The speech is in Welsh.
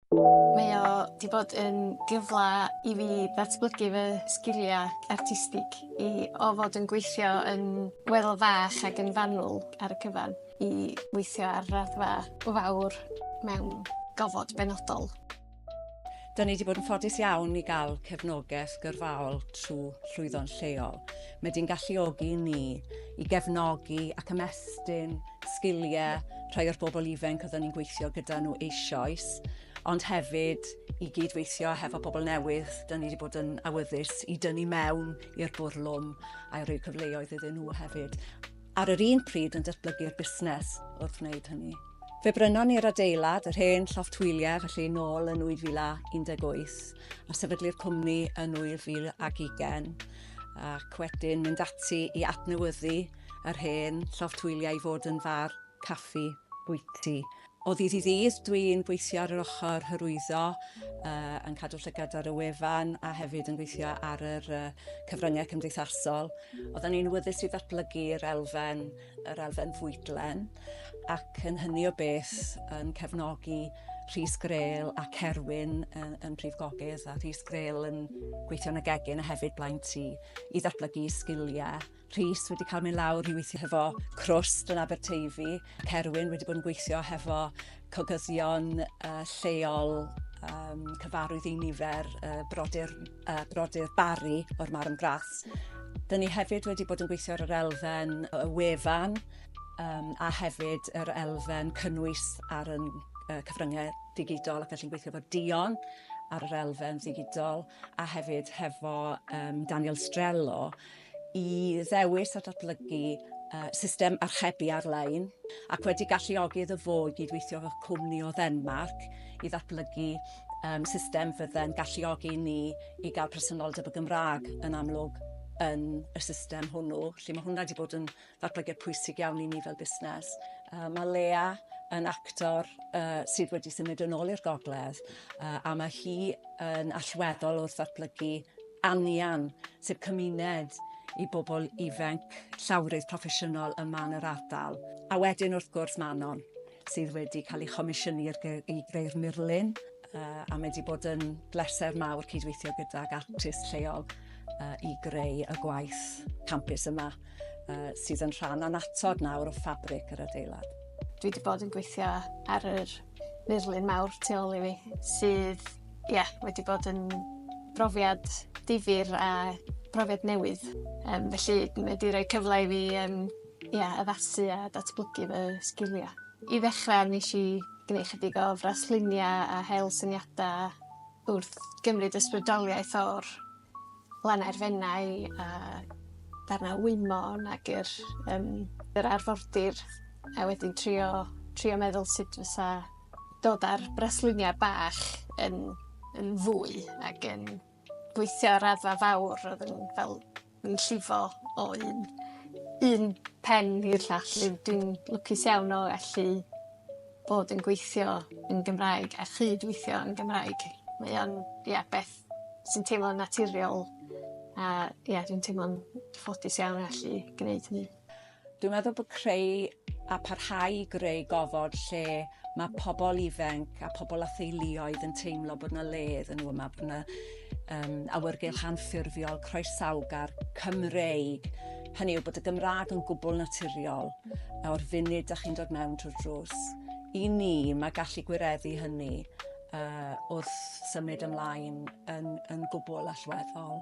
Mae o 'di bod yn gyfla i fi ddatblygu fy sgilia artistig i o fod yn gweithio yn weddol fach ag yn fanwl ar y cyfan i weithio ar raddfa fawr mewn gofod benodol. Dyn ni 'di bod yn ffodus iawn i gael cefnogaeth gyrfaol trwy Llwyddo'n Lleol. Mae di'n galluogi ni i gefnogi ac ymestyn sgiliau rhai o'r bobl ifanc oedden ni'n gweithio gyda nhw eisoes, ond hefyd i gyd-weithio hefo pobl newydd, da ni wedi bod yn awyddus i dynnu mewn i'r bwrlwm a rhoi cyfleoedd iddyn nhw hefyd. Ar yr un pryd yn datblygu'r busnes wrth wneud hynny. Fe brynon ni'r adeilad, yr hen llofft hwyliau, felly nôl yn 2018, a sefydlu'r cwmni yn 2020, ac wedyn mynd ati i adnewyddu Yr hen lloftwyliau i fod yn far caffi bwyty. O ddydd i ddydd dwi'n gweithio ar yr ochr hyrwyddo, yn cadw llygad ar y wefan a hefyd yn gweithio ar yr cyfryngau cymdeithasol. Oeddan ni'n wyddys i ddatblygu'r elfen, yr elfen fwydlen, ac yn hynny o beth yn cefnogi Rhys Grail a Cerwyn yn Prif Gogydd a Rhys Grail yn gweithio yn y gegin a hefyd blaen tŷ i ddatblygu sgiliau. Rhys wedi cael mynd lawr i weithio hefo Crwst yn Aberteifi. Cerwyn wedi bod yn gweithio hefo cogyddion uh, lleol um, cyfarwydd i nifer uh, brodyr, uh, brodyr Barry o'r Marm Graths. Dyn ni hefyd wedi bod yn gweithio ar yr elfen y wefan um, a hefyd yr elfen cynnwys ar y uh, cyfryngau digidol ac allu'n gweithio efo Dion ar yr elfen ddigidol a hefyd hefo um, Daniel Strello i ddewis a datblygu system archebu ar-lein ac wedi galluogi iddo fo i gydweithio efo cwmni o Ddenmarc i ddatblygu um, system fydde'n galluogi ni i gael presenoldeb y Gymraeg yn amlwg yn y system hwnnw, lle mae hwnna wedi bod yn ddatblygiad pwysig iawn i ni fel busnes. Uh, mae Lea yn actor uh, sydd wedi symud yn ôl i'r gogledd uh, a mae hi yn allweddol wrth ddatblygu anian, sef cymuned i bobl ifanc llawrydd proffesiynol yma yn yr ardal. A wedyn wrth gwrs Manon, sydd wedi cael ei chomisiynu ar gy- i greu'r murlun yy a mae 'di bod yn bleser mawr cydweithio gydag artist lleol yy i greu y gwaith campus yma yy sydd yn rhan annatod nawr o ffabric yr adeilad. Dwi 'di bod yn gweithio ar yr murlun mawr tu ôl i fi sydd ie wedi bod yn brofiad difyr a profiad newydd yym felly mae 'di roi cyfle i fi yym ia, addasu a datblygu fy sgiliau. I ddechrau, wnes i gwneud chydig o frasluniau a hel syniadau wrth gymryd ysbrydoliaeth o'r lannau'r Fenai a darnau Wymmon ac yr yym yr arfordir a wedyn trio trio meddwl sut fysa dod â'r brasluniau bach yn yn fwy ac yn gweithio ar raddfa fawr ro'dd yn fel yn llifo o un un pen i'r llall rwy- dwi'n lwcus iawn o allu bod yn gweithio yn Gymraeg a chyd-weithio yn Gymraeg. Mae o'n ia beth sy'n teimlo'n naturiol a ia dwi'n teimlo'n ffodus iawn allu gneud hynny. Dwi'n meddwl bod creu a parhau i greu gofod lle mae pobl ifanc a pobl a theuluoedd yn teimlo bod yna le iddyn nhw yma, bod yna um, awyrgylch anffurfiol, croesawgar, Cymreig. Hynny yw bod y Gymraeg yn gwbl naturiol o'r funud da chi'n dod mewn trwy'r drws. I ni, mae gallu gwireddu hynny uh, wrth symud ymlaen yn, yn gwbl allweddol.